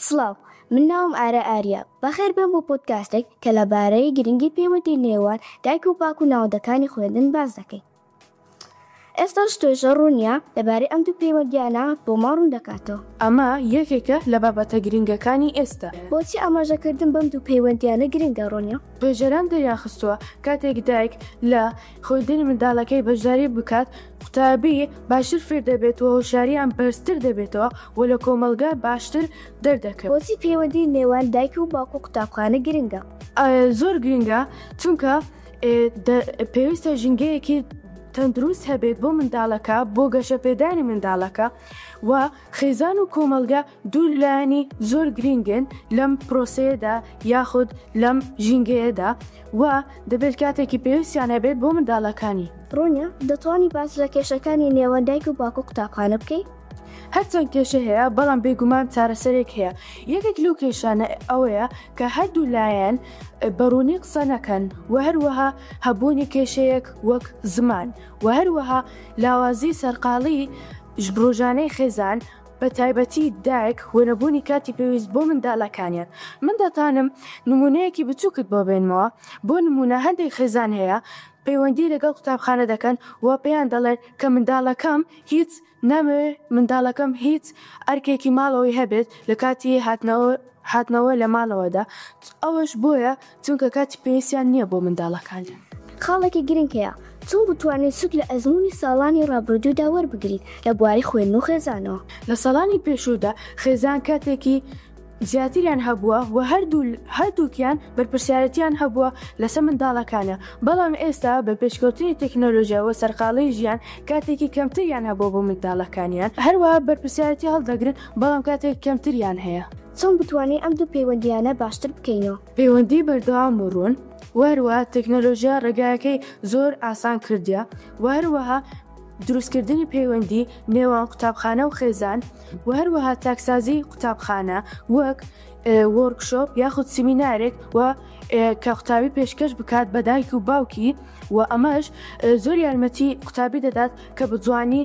سڵاو، من ناوم ئارا ئاریا، بەخێربێن بۆ پۆدکاستێک کە لەبارەی گرنگی پەیوەندی نێوان دایک و باوک و ناوەندەکانی خوێندن باس دەکەین. ئێستاش توێژەر ڕوونیە لەبارەی ئەم دوو پەیوەندییانە بۆمان ڕوون دەکاتەوە. ئەمە یەکێکە لە بابەتە گرنگەکانی ئێستا. بۆچی ئاماژەکردن بەم دوو پەیوەندییانە گرنگە، ڕوونیە؟ توێژەران دەریانخستووە کاتێک دایک لە خوێندنی منداڵەکەی بەشداری بکات، قوتابی باشتر فێر دەبێت و هۆشیارییان بەرزتر دەبێتەوە و لە کۆمەڵگە باشتر دەردەکەوێت. بۆچی پەیوەندی نێوان دایک و باوک و قوتابخانە گرنگە؟ زۆر گرنگە، چونکە پێویستە ژینگەیەکی تەندروست هەبێت بۆ منداڵەکە، بۆ گەشەپێدانی منداڵەکە و خێزان و کۆمەڵگە دوو لایەنی زۆر گرینگن لەم پرۆسەیەدا یاخود لەم ژینگەیەدا و دەبێت کاتێکی پێویستیان هەبێت بۆ منداڵەکانی. ڕونیە دەتوانی باس لە کێشەکانی نێوان دایک و باکو قوتابخانە بکەی؟ هەرچەند کێشە هەیە بەڵام بێگومان چارەسەرێک هەیە یەکێک لەو کێشانە ئەوەیە کە هەردوو لایەن بە ڕوونی قسە نەکەن و هەروەها هەبوونی کێشەیەک وەک زمان و هەروەها لاوازی سەرقاڵی ژبرۆژانەی خێزان بە تایبەتی دایک و نەبوونی کاتی پێویست بۆ مندالەکانیان. من دەتانم نموونەیەکی بچووکت بۆ بێنمەوە، بۆ نموونە هەندێک خێزان هەیە پەیوەندی لەگەڵ قوتابخانە دەکەن و پێیان دەڵێن کە منداڵەکەم هیچ نامەوێت، منداڵەکەم هیچ ئەرکێکی ماڵەوەی هەبێت لە کاتی هاتنەوە لە ماڵەوەدا، ئەوەش بۆیە چونکە کاتی پێویستیان نییە بۆ منداڵەکانیان. خاڵێکی گرنگ هەیە، چۆن بتوانین سوود لە ئەزموونی ساڵانی ڕابردوودا وەربگرین لە بواری خوێندن و خێزانەوە؟ لە ساڵانی پێشوودا خێزان کاتێکی زیاتریان هەبووە و هەردوو هەردووکیان بەرپرسیارەتییان هەبووە لەسەر منداڵەکانە، بەڵام ئێستا بە پێشکەوتنی تەکنۆلۆژیا و سەرقاڵیی ژیان کاتێکی کەمتریان هەبووە بۆ منداڵەکانیان، هەروەها بەرپرسیارەتی هەڵدەگرن بەڵام کاتێکی کەمتریان هەیە. چۆن بتوانین ئەم دوو پەیوەندییانە باشتر بکەینەوە؟ پەیوەندی بەردەوام و ڕوون، و هەروەها تەکنەلۆژیا ڕێگایەکەی زۆر ئاسان کردیە، و هەروەها دروستکردنی پەیوەندی نێوان قوتابخانە و خێزان، و هەروەها چاکسازی قوتابخانە وەک وۆرکشۆپ یاخود سیمینارێک و کە قوتابی پێشکەش بکات بە دایک و باوکی، و ئەمەش زۆر یارمەتی قوتابی دەدات کە بە جوانی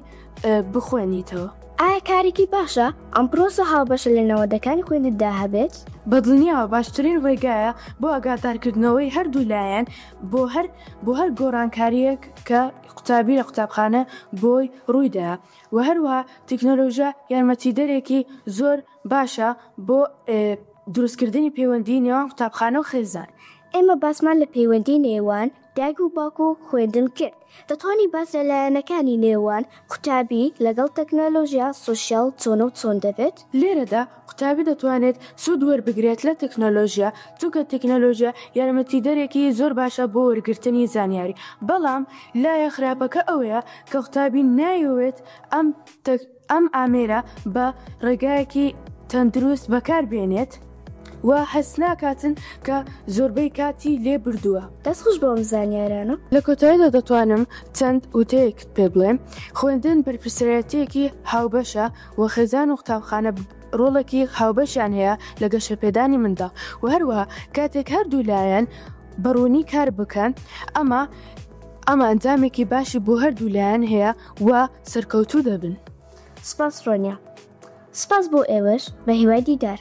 بخوێنیتەوە. ئایا کارێکی باشە ئەم پرۆسە هاوبەشە لە نەوەدەکانی خوێندندا هەبێت؟ بە دڵنییاوە باشترین ڕێگایە بۆ ئاگادارکردنەوەی هەردوو لایەن بۆ هەر بۆ هەر گۆڕانکارییەک کە قوتابی لە قوتابخانە بۆی ڕووی دا و هەروەها تەکنۆلۆژیا یارمەتیدەرێکی زۆر باشە بۆ دروستکردنی پەیوەندیی نێوان قوتابخانە و خێزان. ئێمە باسمان لە پەیوەندیی نێوان دایک و باوک و خوێندن کرد. دەتوانی باس لە لایەنەکانی نێوان قوتابی لەگەڵ تەکنەلۆژیا سۆشیال چۆنە و چۆن دەبێت؟ لێرەدا قوتابی دەتوانێت سوود وەربگرێت لە تەکنەلۆژیا، چونکە تەکنەلۆژیا یارمەتیدەرێکی زۆر باشە بۆ وەرگرتنی زانیاری، بەڵام لایە خراپەکە ئەوەیە کە قوتابی نایەوێت ئەم. ئەم ئامێرە بە ڕێگایەکی تەندروست بەکاربێنێت و هەستناکاتن کە زۆربەی کاتی لێ بردووە. دەست خۆش بۆ ئەم زانیارانە. لە کۆتاییدا دەتوانم چەند وتەیەکت پێ بڵێم، خوێندن بەرپرسیارەتییەکی هاوبەشە و خێزان و قوتابخانە ڕۆڵێکی هاوبەشیان هەیە لە گەشەپێدانی منداڵ و هەروەها کاتێک هەردوو لایەن بە ڕوونی کار بکەن ئەمە ئەمە ئەنجامێکی باشی بۆ هەردوو لایەن هەیە. و سەرکەوتوو دەبن. سپاس ڕۆنیا. سپاس بۆ ئێوەش بە هیوای دیدار.